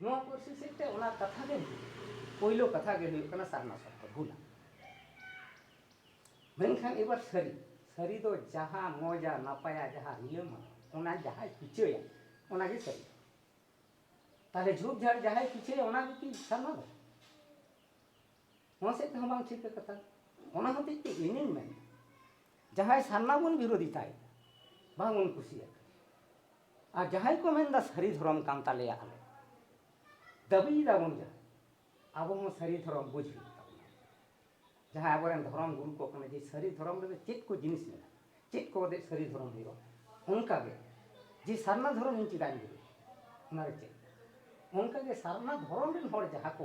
ᱱᱚᱣᱟ ᱯᱟᱹᱨᱥᱤ ᱥᱮᱫ ᱛᱮ ᱚᱱᱟ ᱠᱟᱛᱷᱟ ᱜᱮ ᱯᱳᱭᱞᱳ ᱠᱟᱛᱷᱟ ᱜᱮ ᱦᱩᱭᱩᱜ ᱠᱟᱱᱟ ᱥᱟᱨᱱᱟ ᱥᱚᱨᱛᱚ ᱵᱷᱩᱞᱟ ᱢᱮᱱᱠᱷᱟᱱ ᱮᱵᱟᱨ ᱥᱟᱹᱨᱤ ᱥᱟᱹᱨᱤ ᱫᱚ ᱡᱟᱦᱟᱸ ᱢᱚᱡᱟ ᱱᱟᱯᱟᱭᱟ ᱡᱟᱦᱟᱸ ᱨᱤᱞᱟᱹᱢᱟ ᱚᱱᱟ ᱡᱟᱦᱟᱸᱭ ᱯᱤᱪᱷᱟᱹᱭᱟ ᱚᱱᱟᱜᱮ ᱥᱟᱹᱨᱤ ᱛᱟᱦᱞᱮ ᱡᱷᱩᱠ ᱡᱷᱟᱲ ᱡᱟᱦᱟᱸᱭ ᱯᱤᱪᱷᱟᱹᱭᱟ ᱚᱱᱟᱜᱮ ᱠᱤ ᱥᱟᱨᱱᱟ ᱫᱚ ᱱᱚᱣᱟ ᱥᱮᱫ ᱛᱮᱦᱚᱸ ᱵᱟᱝ ᱴᱷᱤᱠᱟ ᱠᱟᱛᱷᱟ ᱚᱱᱟ ᱦᱚᱛᱮᱡ ᱛᱮ ᱤᱧᱤᱧ ᱢᱮᱱᱟ ᱡᱟᱦᱟᱸᱭ ᱥᱟᱨᱱᱟ ᱵᱚᱱ ᱵᱤᱨᱳᱫᱷᱤᱛᱟᱭ ᱵᱟᱝᱵᱚᱱ ᱠᱩᱥᱤᱭᱟᱜ ᱟᱨ ᱡᱟᱦᱟᱸᱭ ᱠᱚ ᱢᱮᱱᱫᱟ ᱥᱟᱹᱨᱤ ᱫᱷᱚᱨᱚᱢ ᱠᱟᱱ ᱛᱟᱞᱮᱭᱟ ᱟᱞᱮ ᱫᱟᱹᱵᱤᱭ ᱫᱟᱵᱚᱱ ᱡᱟᱦᱟᱸ ᱟᱵᱚ ᱦᱚᱸ ᱥᱟᱹᱨᱤ ᱫᱷᱚᱨᱚᱢ ᱵᱩᱡᱽ ᱦᱩᱭᱩᱜ ᱛᱟᱵᱚᱱᱟ ᱡᱟᱦᱟᱸᱭ ᱟᱵᱚᱨᱮᱱ ᱫᱷᱚᱨᱚᱢ ᱜᱩᱨᱩ ᱠᱚ ᱠᱟᱱᱟ ᱡᱮ ᱥᱟᱹᱨᱤ ᱫᱷᱚᱨᱚᱢ ᱨᱮᱫᱚ ᱪᱮᱫ ᱠᱚ ᱡᱤᱱᱤᱥ ᱢᱮᱱᱟᱜᱼᱟ ᱪᱮᱫ ᱠᱚ ᱠᱟᱛᱮ ᱥᱟᱹᱨᱤ ᱫᱷᱚᱨᱚᱢ ᱦᱩᱭᱩᱜᱼᱟ ᱚᱱᱠᱟᱜᱮ ᱡᱮ ᱥᱟᱨᱱᱟ ᱫᱷᱚᱨᱚᱢ ᱤᱧ ᱪᱮᱫᱟᱜ ᱤᱧ ᱵᱩᱡᱽ ᱚᱱᱟᱨᱮ ᱪᱮᱫ ᱚᱱᱠᱟᱜᱮ ᱥᱟᱨᱱᱟ ᱫᱷᱚᱨᱚᱢ ᱨᱮᱱ ᱦᱚᱲ ᱡᱟᱦᱟᱸ ᱠᱚ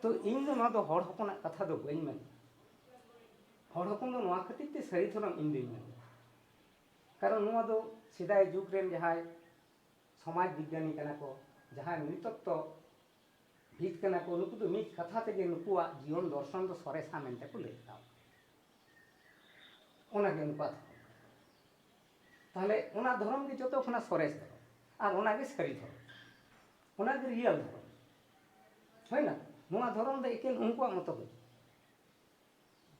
ᱛᱚ ᱤᱧ ᱫᱚ ᱱᱚᱣᱟ ᱫᱚ ᱦᱚᱲ ᱦᱚᱯᱚᱱᱟᱜ ᱠᱟᱛᱷᱟ ᱫᱚ ᱵᱟᱹᱧ ᱢᱮᱱᱟ ᱦᱚᱲ ᱦᱚᱯᱚᱱ ᱫᱚ ᱱᱚᱣᱟ ᱠᱷᱟᱹᱛᱤᱨ ᱛᱮ ᱥᱟᱹᱨᱤ ᱫᱷᱚᱨᱚᱢ ᱤᱧ ᱫᱚᱧ ᱢᱮᱱᱟ ᱠᱟᱨᱚᱱ ᱱᱚᱣᱟ ᱫᱚ ᱥᱮᱫᱟᱭ ᱡᱩᱜᱽ ᱨᱮᱱ ᱡᱟᱦᱟᱸᱭ ᱥᱚᱢᱟᱡᱽ ᱵᱤᱜᱽᱜᱟᱱᱤ ᱠᱟᱱᱟ ᱠᱚ ᱡᱟᱦᱟᱸᱭ ᱱᱤᱛᱚᱛᱛᱚ ᱵᱷᱤᱛ ᱠᱟᱱᱟ ᱠᱚ ᱱᱩᱠᱩ ᱫᱚ ᱢᱤᱫ ᱠᱟᱛᱷᱟ ᱛᱮᱜᱮ ᱱᱩᱠᱩᱣᱟᱜ ᱡᱤᱭᱚᱱ ᱫᱚᱨᱥᱚᱱ ᱫᱚ ᱥᱚᱨᱮᱥᱟ ᱢᱮᱱᱛᱮ ᱠᱚ ᱞᱟᱹᱭ ᱠᱟᱣ ᱚᱱᱟᱜᱮ ᱩᱱᱠᱩᱣᱟᱜ ᱫᱷᱚᱨᱚᱢ ᱛᱟᱦᱞᱮ ᱚᱱᱟ ᱫᱷᱚᱨᱚᱢ ᱜᱮ ᱡᱚᱛᱚ ᱠᱷᱚᱱᱟᱜ ᱥᱚᱨᱮᱥ ᱫᱷᱚᱨᱚᱢ ᱟᱨ ᱚᱱᱟᱜᱮ ᱥᱟᱹᱨᱤ ᱫᱷᱚᱨᱚᱢ ᱚᱱᱟᱜᱮ ᱨᱤᱭᱮᱞ ᱫᱷᱚᱨᱚᱢ ᱦᱩᱭᱱᱟ ᱱᱚᱣᱟ ᱫᱷᱚᱨᱚᱢ ᱫᱚ ᱮᱠᱮᱱ ᱩᱱᱠᱩᱣᱟᱜ ᱢᱚᱛᱚ ᱫᱚ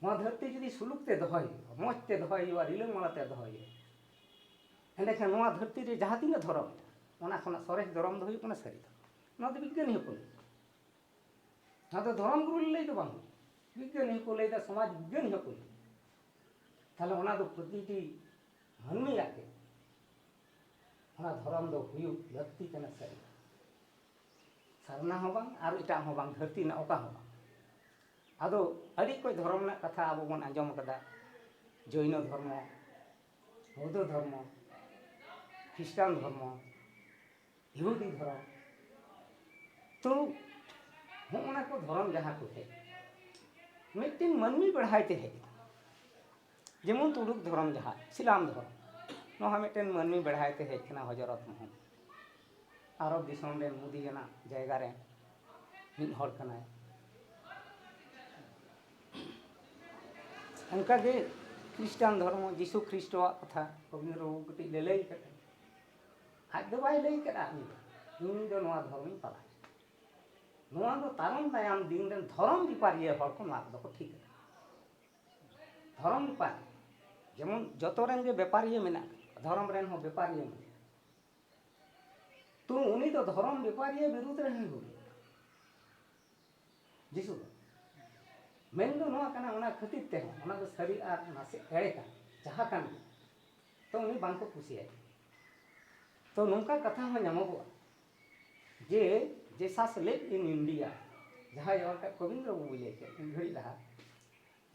ᱱᱚᱣᱟ ᱫᱷᱟᱹᱨᱛᱤ ᱡᱩᱫᱤ ᱥᱩᱞᱩᱠ ᱛᱮ ᱫᱚᱦᱚᱭ ᱦᱩᱭᱩᱜᱼᱟ ᱢᱚᱡᱽ ᱛᱮ ᱫᱚᱦᱚᱭ ᱦᱩᱭᱩᱜᱼᱟ ᱨᱤᱞᱟᱹᱢᱟᱞᱟ ᱛᱮ ᱫᱚᱦᱚᱭ ᱦᱩᱭᱩᱜᱼᱟ ᱮᱸᱰᱮᱠᱷᱟᱱ ᱱᱚᱣᱟ ᱫᱷᱟᱹᱨᱛᱤ ᱨᱮ ᱡᱟᱦᱟᱸ ᱛᱤᱱᱟᱹᱜ ᱫᱷᱚᱨᱚᱢ ᱢᱮᱱᱟᱜᱼᱟ ᱚᱱᱟ ᱠᱷᱚᱱᱟᱜ ᱥᱚᱨᱮᱥ ᱫᱷᱚᱨᱚᱢ ᱫᱚ ᱦᱩᱭᱩᱜ ᱠᱟᱱᱟ ᱥᱟᱹᱨᱤ ᱫᱷᱚᱨᱚᱢ ᱱᱚᱣᱟ ᱫᱚ ᱵᱤᱜᱽᱜᱟᱱᱤ ᱦᱚᱸᱠᱚ ᱞᱟᱹᱭᱟ ᱱᱚᱣᱟ ᱫᱚ ᱫᱷᱚᱨᱚᱢ ᱜᱩᱨᱩ ᱞᱟᱹᱭ ᱫᱚ ᱵᱟᱝ ᱵᱤᱜᱽᱜᱟᱱᱤ ᱦᱚᱸᱠᱚ ᱞᱟᱹᱭᱫᱟ ᱥᱚᱢᱟᱡᱽ ᱵᱤᱜᱽᱜᱟᱱᱤ ᱦᱚᱸᱠᱚ ᱞᱟᱹᱭᱟ ᱛᱟᱦᱞᱮ ᱚᱱᱟ ᱫᱚ ᱯᱨᱚᱛᱤᱴᱤ ᱢᱟᱹᱱᱢᱤᱭᱟᱜ ᱜᱮ ᱚᱱᱟ ᱫᱷᱚᱨᱚᱢ ᱫᱚ ᱦᱩᱭᱩᱜ ᱞᱟᱹᱠᱛᱤ ᱠᱟᱱᱟ ᱥᱟᱹᱨᱤ ᱥᱟᱨᱱᱟ ᱦᱚᱸ ᱵᱟᱝ ᱟᱨ ᱮᱴᱟᱜ ᱦᱚᱸ ᱵᱟᱝ ᱫᱷᱟᱹᱨᱛᱤ ᱨᱮᱱᱟᱜ ᱚᱠᱟ ᱦᱚᱸ ᱵᱟᱝ ᱟᱫᱚ ᱟᱹᱰᱤ ᱠᱚᱡ ᱫᱷᱚᱨᱚᱢ ᱨᱮᱱᱟᱜ ᱠᱟᱛᱷᱟ ᱟᱵᱚ ᱵᱚᱱ ᱟᱸᱡᱚᱢ ᱟᱠᱟᱫᱟ ᱡᱚᱭᱱᱚ ᱫᱷᱚᱨᱢᱚ ᱵᱳᱫᱷᱚ ᱫᱷᱚᱨᱢᱚ ᱠᱷᱨᱤᱥᱴᱟᱱ ᱫᱷᱚᱨᱢᱚ ᱤᱦᱩᱫᱤ ᱫᱷᱚᱨᱚᱢ ᱛᱚ ᱦᱚᱸᱜᱼᱚ ᱱᱟ ᱠᱚ ᱫᱷᱚᱨᱚᱢ ᱡᱟᱦᱟᱸ ᱠᱚ ᱦᱮᱡ ᱢᱤᱫᱴᱮᱱ ᱢᱟᱹᱱᱢᱤ ᱵᱮᱲᱦᱟᱭ ᱛᱮ ᱦᱮᱡ ᱟᱠᱟᱱᱟ ᱡᱮᱢᱚᱱ ᱛᱩᱲᱩᱠ ᱫᱷᱚᱨᱚᱢ ᱡᱟᱦᱟᱸ ᱥᱤᱞᱟᱢ ᱫᱷᱚᱨᱚᱢ ᱱᱚᱣᱟ ᱦᱚᱸ ᱢᱤᱫᱴᱮᱱ ᱢᱟᱹᱱᱢᱤ ᱵᱮᱲᱦᱟᱭ ᱛᱮ ᱦᱮᱡ ᱟᱠᱟᱱᱟ ᱦᱚᱡᱚᱨᱚᱛ ᱢᱚᱦᱚᱢᱢᱚᱫᱽ ᱟᱨᱚᱵᱽ ᱫᱤᱥᱚᱢ ᱨᱮᱱ ᱢᱩᱫᱤ ᱟᱱᱟᱜ ᱡᱟᱭᱜᱟ ᱨᱮ ᱢᱤᱫ ᱦᱚᱲ ᱠᱟᱱᱟᱭ᱾ ᱚᱱᱠᱟ ᱜᱮ ᱠᱷᱨᱤᱥᱴᱟᱱ ᱫᱷᱚᱨᱢᱚ ᱡᱤᱥᱩ ᱠᱷᱨᱤᱥᱴᱚ ᱟᱜ ᱠᱟᱛᱷᱟ ᱠᱚᱵᱤᱱᱫᱨᱚ ᱵᱟᱵᱩ ᱠᱟᱹᱴᱤᱡ ᱞᱮ ᱞᱟᱹᱭ ᱠᱟᱫᱟ᱾ ᱟᱡ ᱫᱚ ᱵᱟᱭ ᱞᱟᱹᱭ ᱠᱟᱫᱟ ᱩᱱᱤ ᱫᱚ ᱤᱧ ᱫᱚ ᱱᱚᱣᱟ ᱫᱷᱚᱨᱢᱤᱧ ᱯᱟᱞᱟᱣ ᱱᱚᱣᱟ ᱫᱚ ᱛᱟᱭᱚᱢ ᱫᱟᱭᱟᱢ ᱫᱤᱱ ᱨᱮᱱ ᱫᱷᱚᱨᱚᱢ ᱵᱮᱯᱟᱨᱤᱭᱟᱹ ᱦᱚᱲ ᱠᱚ ᱱᱚᱣᱟ ᱠᱚᱫᱚ ᱠᱚ ᱴᱷᱤᱠ ᱟᱠᱟᱫᱟ᱾ ᱫᱷᱚᱨᱚᱢ ᱵᱮᱯᱟᱨᱤᱭᱟᱹ ᱡᱮᱢᱚᱱ ᱡᱚᱛᱚ ᱨᱮᱱ ᱜᱮ ᱵᱮᱯᱟᱨᱤᱭᱟᱹ ᱢᱮᱱᱟᱜ ᱠᱚᱣᱟ ᱫᱷᱚᱨᱚᱢ ᱨᱮᱱ ᱦᱚᱸ ᱵᱮᱯᱟᱨᱤᱭᱟᱹ ᱢᱮᱱᱟᱜ ᱠᱚᱣᱟ᱾ ᱛᱚ ᱩᱱᱤ ᱫᱚ ᱫᱷᱚᱨᱚᱢ ᱵᱮᱯᱟᱨᱤᱭᱟᱹ ᱵᱤᱨᱩᱫᱽ ᱨᱮ ᱦᱟᱹᱱᱤ ᱵᱩᱜᱤ ᱡᱤᱥᱩ ᱫᱚ ᱢᱮᱱ ᱫᱚ ᱱᱚᱣᱟ ᱠᱟᱱᱟ ᱚᱱᱟ ᱠᱷᱟᱹᱛᱤᱨ ᱛᱮᱦᱚᱸ ᱚᱱᱟ ᱫᱚ ᱥᱟᱹᱨᱤ ᱟᱨ ᱱᱟᱥᱮ ᱮᱲᱮ ᱠᱟᱱ ᱡᱟᱦᱟᱸ ᱠᱟᱱ ᱜᱮ ᱛᱚ ᱩᱱᱤ ᱵᱟᱝ ᱠᱚ ᱠᱩᱥᱤᱭᱟᱭ ᱛᱚ ᱱᱚᱝᱠᱟ ᱠᱟᱛᱷᱟ ᱦᱚᱸ ᱧᱟᱢᱚᱜᱚᱜᱼᱟ ᱡᱮ ᱡᱮᱥᱟᱥ ᱞᱮᱵ ᱤᱱ ᱤᱱᱰᱤᱭᱟ ᱡᱟᱦᱟᱸᱭ ᱚᱞ ᱠᱟᱜ ᱠᱚᱵᱤᱱᱫᱨᱚ ᱵᱟᱵᱩᱭ ᱞᱟᱹᱭ ᱠᱮᱫ ᱢᱤᱫ ᱜᱷᱟᱹᱲᱤᱡ ᱞᱟᱦᱟ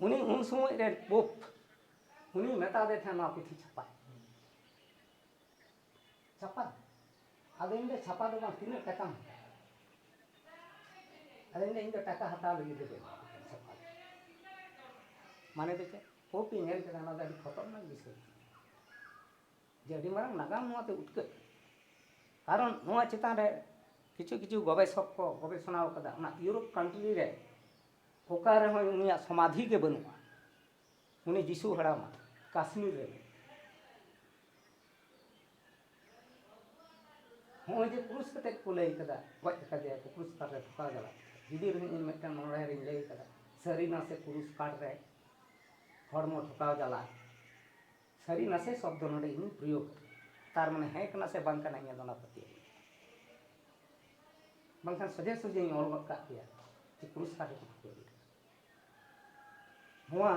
ᱩᱱᱤ ᱩᱱ ᱥᱚᱢᱚᱭ ᱨᱮ ᱯᱳᱯ ᱩᱱᱤ ᱢᱮᱛᱟ ᱫᱮ ᱛᱟᱦᱮᱸᱫ ᱱᱚᱣᱟ ᱯᱩᱛᱷᱤ ᱪᱷᱟᱯᱟᱭ ᱪᱷᱟᱯᱟ ᱟᱫᱚ ᱤᱧ ᱫᱚ ᱪᱷᱟᱯᱟ ᱫᱚ ᱵᱟᱝ ᱛᱤᱱᱟᱹᱜ ᱴᱟᱠᱟᱢ ᱟᱫᱚ ᱤᱧ ᱫᱚ ᱴᱟᱠᱟ ᱦᱟᱛᱟᱣ ᱞᱟᱹᱜᱤᱫ ᱫᱚ ᱪᱷᱟᱯᱟ ᱢᱟᱱᱮ ᱫᱚ ᱪᱮᱫ ᱯᱳᱯᱤ ᱧᱮᱞ ᱠᱮᱫᱟ ᱚᱱᱟ ᱫᱚ ᱟᱹᱰᱤ ᱠᱷᱚᱛᱚᱨᱱᱟᱠ ᱵᱤᱥᱚᱭ ᱡᱮ ᱟᱹᱰᱤ ᱢᱟᱨᱟᱝ ᱱᱟᱜᱟᱢ ᱱᱚᱣᱟᱛᱮ ᱩᱴᱠᱟᱹᱜ ᱠᱟᱨᱚᱱ ᱱᱚᱣᱟ ᱪᱮᱛᱟᱱ ᱨᱮ ᱠᱤᱪᱷᱩ ᱠᱤᱪᱷᱩ ᱜᱚᱵᱮᱥᱚᱠ ᱠᱚ ᱜᱚᱵᱮᱥᱚᱱᱟ ᱟᱠᱟᱫᱟ ᱚᱱᱟ ᱤᱭᱩᱨᱳᱯ ᱠᱟᱱᱴᱨᱤ ᱨᱮ ᱚᱠᱟ ᱨᱮᱦᱚᱸ ᱩᱱᱤᱭᱟᱜ ᱥᱚᱢᱟᱫᱷᱤ ᱜᱮ ᱵᱟᱹᱱᱩᱜᱼᱟ ᱩᱱᱤ ᱡᱤᱥᱩ ᱦᱟᱲᱟᱢ ᱠᱟᱥᱢᱤᱨ ᱨᱮ ᱢᱮᱱᱟᱭᱟ᱾ ᱦᱚᱸᱜᱼᱚᱭ ᱡᱮ ᱠᱨᱩᱥ ᱠᱟᱛᱮ ᱠᱚ ᱞᱟᱹᱭ ᱠᱟᱫᱟ ᱜᱚᱡ ᱟᱠᱟᱫᱮᱭᱟ ᱠᱚ ᱠᱨᱩᱥ ᱠᱟᱴ ᱨᱮ ᱴᱷᱚᱠᱟᱣ ᱡᱟᱞᱟ ᱡᱩᱫᱤ ᱨᱮᱦᱚᱸ ᱤᱧ ᱢᱤᱫᱴᱟᱝ ᱱᱚᱲᱦᱮ ᱨᱤᱧ ᱞᱟᱹᱭ ᱠᱟᱫᱟ ᱥᱟᱹᱨᱤ ᱱᱟᱥᱮ ᱠᱨᱩᱥ ᱠᱟᱴ ᱨᱮ ᱦᱚᱲᱢᱚ ᱴᱷᱚᱠᱟᱣ ᱡᱟᱞᱟ ᱥᱟᱹᱨᱤ ᱱᱟᱥᱮ ᱥᱚᱵᱫᱚ ᱱᱚᱰᱮ ᱤᱧ ᱯᱨᱚᱭᱳᱜ ᱛᱟᱨ ᱢᱟᱱᱮ ᱦᱮᱸ ᱠᱟᱱᱟ ᱥᱮ ᱵᱟᱝ ᱠᱟᱱᱟ ᱤᱧᱟᱹᱜ ᱫᱚ ᱚᱱᱟ ᱯᱟᱹᱛᱭᱟᱹᱣ ᱵᱟᱝᱠᱷᱟᱱ ᱥᱚᱡᱷᱮ ᱥᱚᱡᱷᱮᱧ ᱚᱞ ᱜᱚᱫ ᱠᱟᱜ ᱠᱮᱭᱟ ᱡᱮ ᱠᱨᱩᱥ ᱠᱟᱴ ᱨᱮ ᱴᱷᱚᱠᱟᱣ ᱡᱟᱞᱟ ᱱᱚᱣᱟ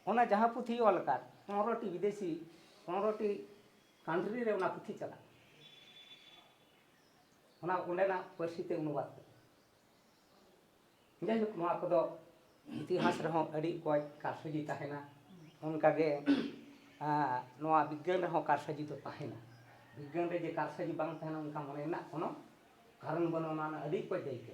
ᱚᱱᱟ ᱡᱟᱦᱟᱸ ᱯᱩᱛᱷᱤ ᱚᱞ ᱟᱠᱟᱫ ᱯᱚᱱᱨᱚᱴᱤ ᱵᱤᱫᱮᱥᱤ ᱯᱚᱱᱨᱚᱴᱤ ᱠᱟᱱᱴᱨᱤ ᱨᱮ ᱚᱱᱟ ᱯᱩᱛᱷᱤ ᱪᱟᱞᱟᱜ ᱚᱱᱟ ᱚᱸᱰᱮᱱᱟᱜ ᱯᱟᱹᱨᱥᱤ ᱛᱮ ᱚᱱᱩᱵᱟᱫ ᱡᱟᱭᱦᱳᱠ ᱱᱚᱣᱟ ᱠᱚᱫᱚ ᱤᱛᱤᱦᱟᱥ ᱨᱮᱦᱚᱸ ᱟᱹᱰᱤ ᱚᱠᱚᱡ ᱠᱟᱨᱥᱟᱡᱤ ᱛᱟᱦᱮᱱᱟ ᱚᱱᱠᱟᱜᱮ ᱱᱚᱣᱟ ᱵᱤᱜᱽᱜᱟᱱ ᱨᱮᱦᱚᱸ ᱠᱟᱨᱥᱟᱡᱤ ᱫᱚ ᱛᱟᱦᱮᱱᱟ ᱵᱤᱜᱽᱜᱟᱱ ᱨᱮ ᱡᱮ ᱠᱟᱨᱥᱟᱡᱤ ᱵᱟᱝ ᱛᱟᱦᱮᱱᱟ ᱚᱱᱠᱟ ᱢᱚᱱᱮ ᱨᱮᱱᱟᱜ ᱠᱳᱱᱳ ᱠᱟᱨᱚᱱ ᱵᱟᱹᱱᱩᱜᱼᱟ ᱚᱱᱟ ᱟᱹᱰᱤ ᱚᱠᱚᱡ ᱫᱟᱹᱭᱠᱟᱹ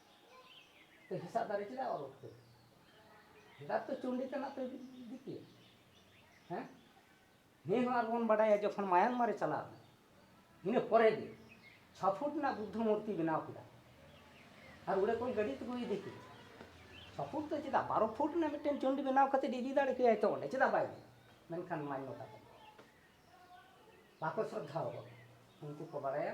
ᱛᱚ ᱦᱮᱸᱥᱟᱜ ᱫᱟᱨᱮ ᱪᱮᱫᱟᱜ ᱚᱨ ᱩᱴᱠᱟᱹ ᱦᱮᱸᱫᱟᱜ ᱛᱚ ᱪᱩᱱᱰᱤ ᱛᱮᱱᱟᱜ ᱛᱚ ᱤᱫᱤ ᱠᱮᱭᱟ ᱦᱮᱸ ᱱᱤᱭᱟᱹ ᱦᱚᱸ ᱟᱨᱵᱚᱱ ᱵᱟᱰᱟᱭᱟ ᱡᱚᱠᱷᱚᱱ ᱢᱟᱭᱟᱱᱢᱟᱨ ᱨᱮ ᱪᱟᱞᱟᱣ ᱮᱱᱟ ᱤᱱᱟᱹ ᱯᱚᱨᱮ ᱜᱮ ᱪᱷᱚ ᱯᱷᱩᱴ ᱨᱮᱱᱟᱜ ᱵᱩᱫᱽᱫᱷᱚ ᱢᱩᱨᱛᱤ ᱵᱮᱱᱟᱣ ᱠᱮᱫᱟ ᱟᱨ ᱚᱸᱰᱮ ᱠᱷᱚᱱ ᱜᱟᱹᱰᱤ ᱛᱮᱠᱚ ᱤᱫᱤ ᱠᱮᱫᱟ ᱪᱷᱚ ᱯᱷᱩᱴ ᱫᱚ ᱪᱮᱫᱟᱜ ᱵᱟᱨᱚ ᱯᱷᱩᱴ ᱨᱮᱱᱟᱜ ᱢᱤᱫᱴᱮᱱ ᱪᱩᱱᱰᱤ ᱵᱮᱱᱟᱣ ᱠᱟᱛᱮ ᱤᱫᱤ ᱫᱟᱲᱮ ᱠᱮᱭᱟᱭ ᱛᱚ ᱚᱸᱰᱮ ᱪᱮᱫᱟᱜ ᱵᱟᱭ ᱤᱫᱤ ᱢᱮᱱᱠᱷᱟᱱ ᱢᱟᱱᱱᱚᱛᱟ ᱠᱚ ᱵᱟᱠᱚ ᱥᱨᱚᱫᱷᱟ ᱟᱠᱚ ᱩᱱᱠᱩ ᱠᱚ ᱵᱟᱲᱟᱭᱟ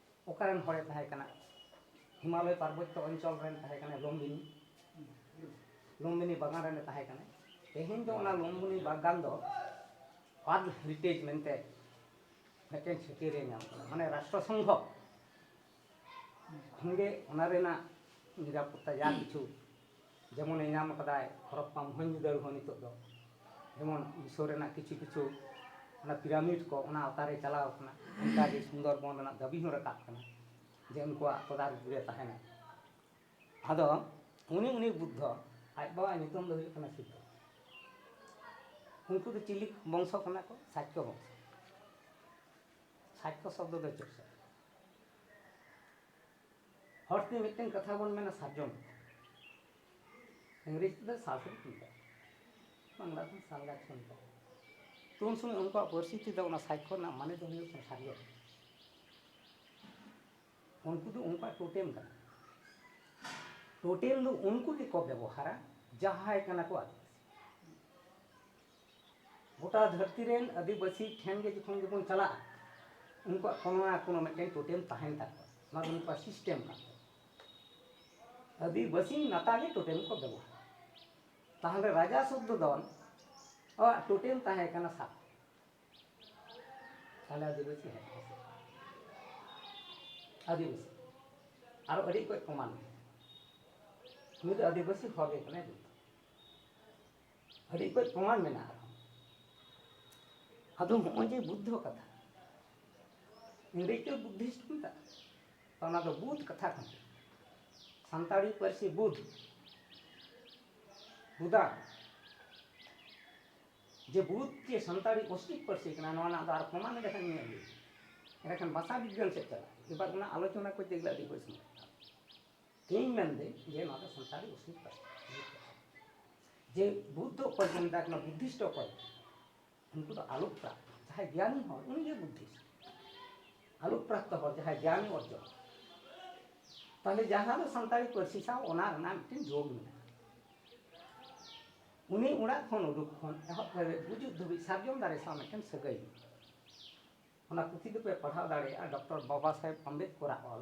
ᱚᱠᱟ ᱨᱮᱱ ᱦᱚᱲᱮ ᱛᱟᱦᱮᱸ ᱠᱟᱱᱟ ᱦᱤᱢᱟᱞᱚᱭ ᱯᱟᱨᱵᱚᱛᱭᱚ ᱚᱧᱪᱚᱞ ᱨᱮᱱ ᱛᱟᱦᱮᱸ ᱠᱟᱱᱟ ᱞᱚᱢᱵᱤᱱᱤ ᱞᱚᱢᱵᱤᱱᱤ ᱵᱟᱜᱟᱱ ᱨᱮᱱᱮ ᱛᱟᱦᱮᱸ ᱠᱟᱱᱟ ᱛᱮᱦᱮᱧ ᱫᱚ ᱚᱱᱟ ᱞᱚᱢᱵᱤᱱᱤ ᱵᱟᱜᱟᱱ ᱫᱚ ᱯᱟᱫᱽ ᱦᱮᱨᱤᱴᱮᱡᱽ ᱢᱮᱱᱛᱮ ᱢᱤᱫᱴᱮᱱ ᱪᱷᱟᱹᱴᱭᱟᱹᱨᱮ ᱧᱟᱢ ᱠᱟᱫᱟ ᱢᱟᱱᱮ ᱨᱟᱥᱴᱨᱚ ᱥᱚᱝᱜᱷᱚ ᱠᱷᱚᱱᱜᱮ ᱚᱱᱟ ᱨᱮᱱᱟᱜ ᱱᱤᱨᱟᱯᱚᱛᱛᱟ ᱡᱟ ᱠᱤᱪᱷᱩ ᱡᱮᱢᱚᱱᱮ ᱧᱟᱢ ᱟᱠᱟᱫᱟᱭ ᱦᱚᱨᱚᱯᱯᱟ ᱢᱚᱦᱮᱱᱡᱳᱫᱟᱲᱳ ᱦᱚᱸ ᱱᱤᱛᱚᱜ ᱫᱚ ᱡᱮᱢᱚᱱ ᱢᱤᱥᱚᱨ ᱨᱮᱱᱟᱜ ᱠᱤᱪᱷᱩ ᱠᱤᱪᱷᱩ ᱚᱱᱟ ᱯᱤᱨᱟᱢᱤᱰ ᱠᱚ ᱚᱱᱟ ᱟᱣᱛᱟ ᱨᱮ ᱪᱟᱞᱟᱣ ᱟᱠᱟᱱᱟ ᱚᱱᱠᱟ ᱜᱮ ᱥᱩᱱᱫᱚᱨ ᱵᱚᱱ ᱨᱮᱱᱟᱜ ᱫᱟᱹᱵᱤ ᱦᱚᱸ ᱨᱟᱠᱟᱵ ᱟᱠᱟᱱᱟ ᱡᱮ ᱩᱱᱠᱩᱣᱟᱜ ᱛᱚᱫᱟᱨᱚᱠ ᱨᱮ ᱛᱟᱦᱮᱱᱟᱭ ᱟᱫᱚ ᱩᱱᱤ ᱩᱱᱤ ᱵᱩᱫᱽᱫᱷᱚ ᱟᱡ ᱵᱟᱵᱟᱣᱟᱜ ᱧᱩᱛᱩᱢ ᱫᱚ ᱦᱩᱭᱩᱜ ᱠᱟᱱᱟ ᱥᱤᱫᱽᱫᱷᱚ ᱩᱱᱠᱩ ᱫᱚ ᱪᱤᱞᱤ ᱵᱚᱝᱥᱚ ᱠᱟᱱᱟ ᱠᱚ ᱥᱟᱪᱠᱚ ᱵᱚᱝᱥᱚ ᱥᱟᱪᱠᱚ ᱥᱚᱵᱽᱫᱚ ᱫᱚ ᱪᱮᱫ ᱥᱚᱵᱽᱫᱚ ᱦᱚᱲ ᱛᱮ ᱢᱤᱫᱴᱮᱱ ᱠᱟᱛᱷᱟ ᱵᱚᱱ ᱢᱮᱱᱟ ᱥᱟᱨᱡᱚᱢ ᱤᱝᱨᱮᱡᱽ ᱛᱮᱫᱚ ᱥᱟᱥᱨᱤ ᱠᱚ ᱢᱮᱛᱟᱜᱼᱟ ᱵᱟᱝᱞᱟ ᱛᱮ ᱥᱟᱞ ᱜᱟᱪᱷ ᱠᱚ ᱢᱮᱛᱟᱜᱼᱟ ᱛᱚ ᱩᱱ ᱥᱚᱢᱚᱭ ᱩᱱᱠᱩᱣᱟᱜ ᱯᱟᱹᱨᱥᱤ ᱛᱮᱫᱚ ᱚᱱᱟ ᱥᱟᱭᱠᱷᱚ ᱨᱮᱱᱟᱜ ᱢᱟᱱᱮ ᱫᱚ ᱦᱩᱭᱩᱜ ᱠᱟᱱᱟ ᱥᱟᱨᱡᱚᱢ ᱩᱱᱠᱩ ᱫᱚ ᱩᱱᱠᱩᱣᱟᱜ ᱴᱳᱴᱮᱢ ᱠᱟᱱᱟ ᱴᱳᱴᱮᱢ ᱫᱚ ᱩᱱᱠᱩ ᱜᱮᱠᱚ ᱵᱮᱵᱚᱦᱟᱨᱟ ᱡᱟᱦᱟᱸᱭ ᱠᱟᱱᱟ ᱠᱚ ᱟᱹᱫᱤᱵᱟᱹᱥᱤ ᱜᱚᱴᱟ ᱫᱷᱟᱹᱨᱛᱤ ᱨᱮᱱ ᱟᱹᱫᱤᱵᱟᱹᱥᱤ ᱴᱷᱮᱱ ᱜᱮ ᱡᱚᱠᱷᱚᱱ ᱜᱮᱵᱚᱱ ᱪᱟᱞᱟᱜᱼᱟ ᱩᱱᱠᱩᱣᱟᱜ ᱠᱳᱱᱳ ᱱᱟ ᱠᱳᱱᱳ ᱢᱤᱫᱴᱮᱱ ᱴᱳᱴᱮᱢ ᱛᱟᱦᱮᱱ ᱛᱟᱠᱚᱣᱟ ᱚᱱᱟ ᱫᱚ ᱩᱱᱠᱩᱣᱟᱜ ᱥᱤᱥᱴᱮᱢ ᱠᱟᱱ ᱛᱟᱠᱚᱣᱟ ᱟᱹᱫᱤᱵᱟᱹᱥᱤ ᱱᱟᱛᱟ ᱜᱮ ᱴᱳᱴᱮᱢ ᱠᱚ ᱵᱮᱵᱚᱦᱟᱨ ᱛᱟᱦᱚᱞᱮ ᱨᱟᱡᱟ ᱥᱩᱫᱽᱫᱷᱚᱫᱚᱱ ᱟᱜ ᱴᱳᱴᱮᱢ ᱛᱟᱦᱮᱸ ᱠᱟᱱᱟ ᱥᱟᱯ ᱛᱟᱦᱚᱞᱮ ᱟᱹᱫᱤᱵᱟᱹᱥᱤ ᱦᱮᱡ ᱟᱹᱫᱤᱵᱟᱹᱥᱤ ᱟᱨᱚ ᱟᱹᱰᱤ ᱠᱚᱡ ᱠᱚᱢᱟᱱ ᱱᱩᱭ ᱫᱚ ᱟᱹᱫᱤᱵᱟᱹᱥᱤ ᱦᱚᱲ ᱜᱮ ᱠᱟᱱᱟᱭ ᱡᱚᱛᱚ ᱟᱹᱰᱤ ᱠᱚᱡ ᱯᱨᱚᱢᱟᱱ ᱢᱮᱱᱟᱜᱼᱟ ᱟᱨᱦᱚᱸ ᱟᱫᱚ ᱱᱚᱜᱼᱚᱭ ᱡᱮ ᱵᱩᱫᱽᱫᱷᱚ ᱠᱟᱛᱷᱟ ᱤᱝᱨᱮᱡᱽ ᱫᱚ ᱵᱩᱫᱽᱫᱷᱤᱥᱴ ᱠᱚ ᱢᱮᱛᱟᱜᱼᱟ ᱛᱚ ᱚᱱᱟ ᱫᱚ ᱵᱩᱫᱽ ᱠᱟᱛᱷᱟ ᱠᱟᱱᱟ ᱥᱟᱱᱛᱟᱲᱤ ᱯᱟᱹᱨᱥᱤ ᱵᱩᱫᱽ ᱵᱩᱫᱟ ᱡᱮ ᱵᱩᱫᱽ ᱡᱮ ᱥᱟᱱᱛᱟᱲᱤ ᱚᱥᱴᱤᱠ ᱯᱟᱹᱨᱥᱤ ᱠᱟᱱᱟ ᱱᱚᱣᱟ ᱨᱮᱱᱟᱜ ᱫᱚ ᱟᱨ ᱯᱨᱚᱢᱟᱱ ᱞᱮᱠᱷᱟᱱ ᱧᱮᱞ ᱦᱩᱭᱩᱜᱼᱟ ᱮᱸᱰᱮᱠᱷᱟᱱ ᱵᱷᱟᱥᱟ ᱵᱤᱜᱽᱜᱟᱱ ᱥᱮᱫ ᱪᱟᱞᱟᱜᱼᱟ ᱮᱵᱟᱨ ᱚᱱᱟ ᱟᱞᱳᱪᱚᱱᱟ ᱠᱚᱨᱛᱮ ᱜᱮᱞᱮ ᱟᱹᱰᱤ ᱠᱚᱡ ᱥᱚᱢᱚᱭ ᱦᱟᱛᱟᱣᱟ ᱤᱧ ᱢᱮᱱᱫᱟᱹᱧ ᱡᱮ ᱱᱚᱣᱟ ᱫᱚ ᱥᱟᱱᱛᱟᱲᱤ ᱚᱥᱢᱤᱛ ᱯᱟᱹᱨᱥᱤ ᱡᱮ ᱵᱩᱫᱽᱫᱷᱚ ᱚᱠᱚᱭ ᱠᱚ ᱢᱮᱛᱟ ᱠᱟᱱᱟ ᱵᱩᱫᱽᱫᱷᱤᱥᱴ ᱚᱠᱚᱭ ᱩᱱᱠᱩ ᱫᱚ ᱟᱞᱳᱠ ᱯᱨᱟᱯᱛ ᱡᱟᱦᱟᱸᱭ ᱜᱮᱭᱟᱱᱤ ᱦᱚᱲ ᱩᱱᱤᱜᱮ ᱵᱩᱫᱽᱫᱷᱤᱥᱴ ᱟᱞᱳᱠ ᱯᱨᱟᱯᱛ ᱦᱚᱲ ᱡᱟᱦᱟᱸᱭ ᱜᱮᱭᱟᱱᱤ ᱚᱨᱡᱚᱱ ᱛᱟᱦᱞᱮ ᱡᱟᱦᱟᱸ ᱫᱚ ᱥᱟᱱᱛᱟᱲᱤ ᱯᱟᱹᱨᱥᱤ ᱥᱟᱶ ᱚᱱᱟ ᱨᱮᱱᱟᱜ ᱢᱤᱫᱴᱮᱱ ᱡᱳᱜᱽ ᱢᱮᱱᱟᱜᱼᱟ ᱩᱱᱤ ᱚᱲᱟᱜ ᱠᱷᱚᱱ ᱩᱰᱩᱠ ᱠᱷᱚᱱ ᱮᱦᱚᱵ ᱠᱟᱛᱮ ᱜᱩᱡᱩᱜ ᱫᱷᱟᱹᱵᱤᱡ ᱥᱟᱨᱡᱚᱢ ᱫᱟᱨᱮ ᱥᱟᱶ ᱢᱤᱫᱴᱮᱱ ᱥᱟᱹᱜᱟᱹᱭ ᱚᱱᱟ ᱯᱩᱛᱷᱤ ᱫᱚᱯᱮ ᱯᱟᱲᱦᱟᱣ ᱫᱟᱲᱮᱭᱟᱜᱼᱟ ᱰᱚᱠᱴᱚᱨ ᱵᱟᱵᱟ ᱥᱟᱦᱮᱵᱽ ᱟᱢᱵᱮᱫᱠᱚᱨᱟᱜ ᱚᱞ